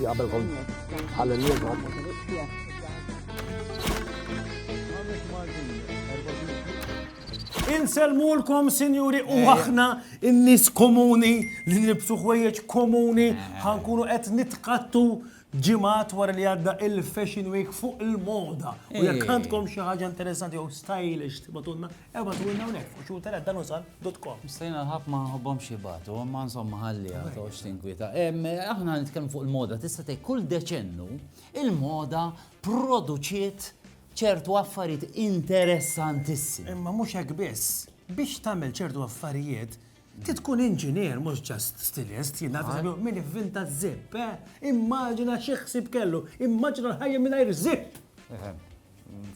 Qabel kont għal-lieba. Inselmulkom, sinjuri, u eh. aħna n-nis komuni li nibsu ħwejjeġ komuni eh. ħankunu qed nitkattu ġimat wara li għadda il-Fashion Week fuq il-moda. U jekk eh. għandkom xi ħaġa interessanti jew stylish tibatunna Ewwa żurna hawnhekk u xhur tara dan usal dot com. Stajna l-ħaf ma nħobbhomx jibgħatu, imma insomma ħalli għatox tinkwita. Aħna nitkellmu fuq il-moda, tista' tgħid kull deċennu il-moda produċiet ċertu affarijiet interessantissimi. Imma mhux hekk biss, biex tagħmel ċertu affarijiet, ti tkun inġinier mhux ġast stilist, jien nagħti min ivvinta żipp, eh? Immaġina xi ħsieb kellu, immaġina l-ħajja mingħajr żipp.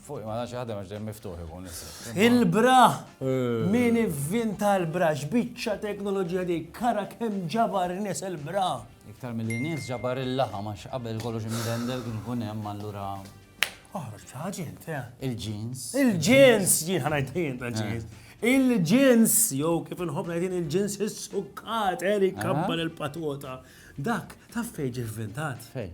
Fuq ma nafx ħadem għax dejjem miftuħ ikun Il-bra! Eh. Min ivvinta l-bra x'biċċa teknoloġija dik kara kemm ġabar nies il-bra. Iktar mill nies ġabar il-laħa ma qabel kollox imdendel kien ikun hemm allura. Oħroġ ħaġi inti. Eh. Il-ġins. Il-ġins jien ħanajt jien ta' ġins. Eh. Il-ġins, jew kif inħobb ngħidin il-ġins is-sukkat, Erik kabbar il-patwota. Dak, taf fejn ġivvintat? Fejn.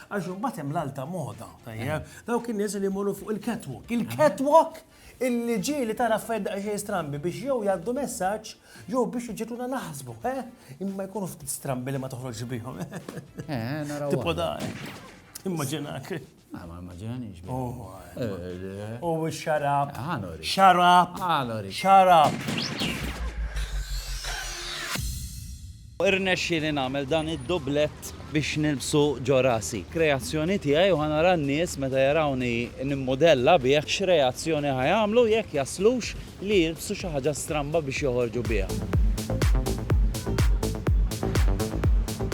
Għax imbagħad hemm l-alta moda, tajjeb. Dawk in-nies li jmorru fuq il-catwalk. Il-catwalk illi ġie li tara affarijiet daqsxejn strambi biex jew jgħaddu messaġġ jew biex iġġiegħluna naħsbu, eh? Imma jkunu ftit strambi li ma toħroġx bihom. Eh, naraw. Tipo dan. Immaġinak. Ma ma immaġinanix. Oh, eh, U oh, xarab. Għanori. Ah, xarab. Għanori. Ah, xarab. Irnexxieli nagħmel dan id-dublett biex nilbsu ġo rasi. Kreazzjoni tiegħi u ħa nara n-nies meta jarawni nimmudella bih x'reazzjoni ħa jagħmlu jekk jaslux li jilbsu xi ħaġa stramba biex joħorġu biha.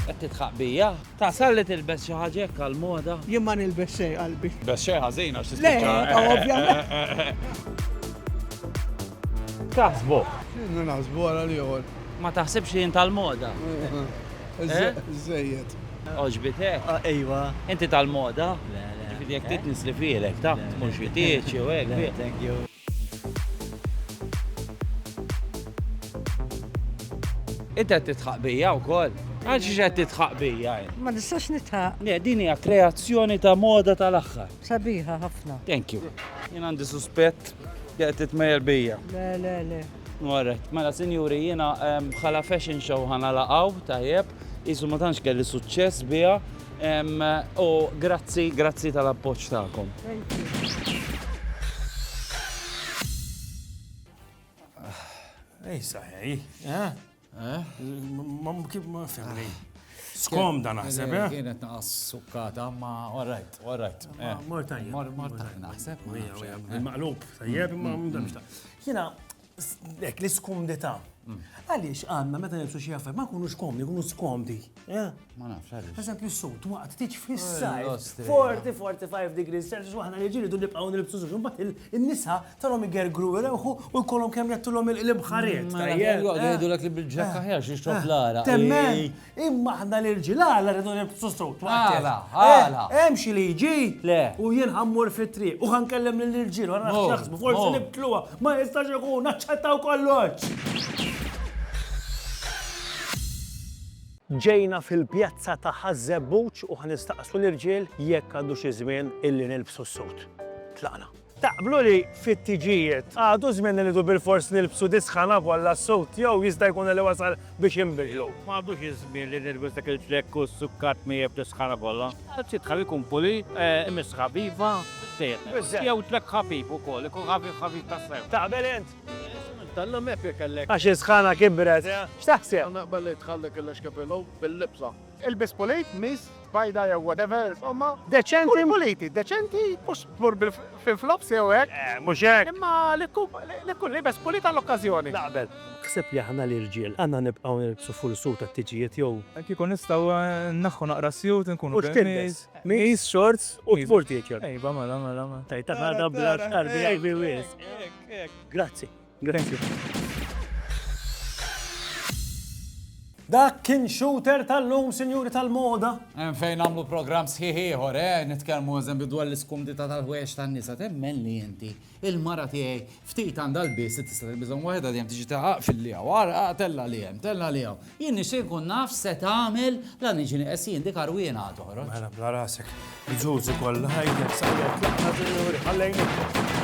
Qed tidħaq bija? Tasal li tilbes xi ħaġa hekk għall-moda? Jien ma nilbes xejn qalbi. Bes xejn ħażin għax tispiċċa. Le, ovvjament. Taħsbu? Inna naħsbu għara li għol. Ma taħsibx li jinta l-moda? Zzejiet. Eh? Oġbitek? Ah, ejwa. Inti tal-moda? Le, le. Ġifidi jek titnis li filek, ta' tkun xitieċi u għek. Thank you. Inti qed titħaq bija wkoll? Għal xiex qed titħaq bija? Ma nistax nitħaq. Le, din hija kreazzjoni ta' moda tal-aħħar. Sabiħa ħafna. Thank you. Jien għandi suspett li qed titmejjel bija. Le, le, le. Morret. Mela sinjuri jiena bħala fashion show ħa nagħlaq hawn, tajjeb, qisu ma tantx kelli suċċess biha u grazzi, grazzi tal-appoġġ tagħkom. Ej saħħa hi, eh? Ma kif ma fimni. Skomda naħseb, eh? Kienet naqas sukkata, ma all right, all right. Mor tajjeb. Mor mor tajjeb naħseb. Maqlub, tajjeb, ma mdamx ta' jina, dek, l-iskumdita. Għaliex għanna meta nibsu xie għaffar, ma kunux komdi, kunu skomdi. Eh? Ma nafx għaliex. Għazab li s-sut waqt tiġ fissaj. 40-45 degrees Celsius waħna li ġiri dun nibqaw nilbsu suġu. Bat il-nisa tarom igergru il-ewħu u jkollhom kemm jattulhom il-bħariet. Għajdu l li bil-ġakka eh. ħjar xiex tof eh. l-ara. Temmen, imma ħna li l-ġilala rridu nilbsu sut. Għala, għala. Hemm xi liġi u jien ħammur fit-triq u ħankellem lill-ġil u narax jaħsbu forsi nibtluha ma jistax ikun naċċettaw kollox. Ġejna fil-pjazza ta' Ħaż-Żebbuġ u ħa nistaqsu l-irġiel jekk għadux iż-żmien illi nilbsu s-sud. Tlaqna. Taqblu li fit-tiġijiet għadu żmien li rridu bilfors nilbsu dis-sħana kollha s-sud jew jista' jkun li wasal biex inbidlu? M'għadux iż-żmien li nilbes dak il-ġlekk u s-sukkat miegħi b'dis-sħana kollha. Anzi tħalli jkun pulit, imissħab, iva, biżżejjed. Jew ġlekk ħafif ukoll, ikun ħafif ħafif tas-sew. Taqbel int? Għax is-sħana kibret. X'taħseb? Ilbes pulit, miss, bajda jew whatever, insomma, deċenti u puliti, deċenti, mhux tmur fil-flops jew hekk. Eh, mhux hekk! Imma li tkun libes pulit għall-okkażjoni. Naqbel. Taħseb li aħna l-irġiel għandna nibqgħu nilbsu full suit għat-tiġijiet jew. Kieku nistgħu nneħħu naqra s-suit inkunu b'hekk. U x'tilbes? Miss, shorts u tmur tiekel. Ejba, mela, mela, mela. Tgħid ta' ħadha bla xarbi, ejbi wisq. Grazzi. Thank you. Dak kien shooter tal-lum, sinjuri tal-moda. Hemm fejn nagħmlu programm sħiħ ieħor, eh, nitkellmu eżempju dwar l-iskumdità tal-ħwejjeġ tan-nisa. Temmen li inti, il-mara tiegħi ftit għandha l-biss tista' tilbishom waħedha dejjem tiġi taħaq fil-liha war tella li hemm, tella li hawn. Jien nixtieq nkun naf se tagħmel la niġi nieqes jien dik arwiena għad toħroġ. Mela bla rasek, ġużi kollha ħajja, sajja, tlaqqa, sinjuri, ħallejni.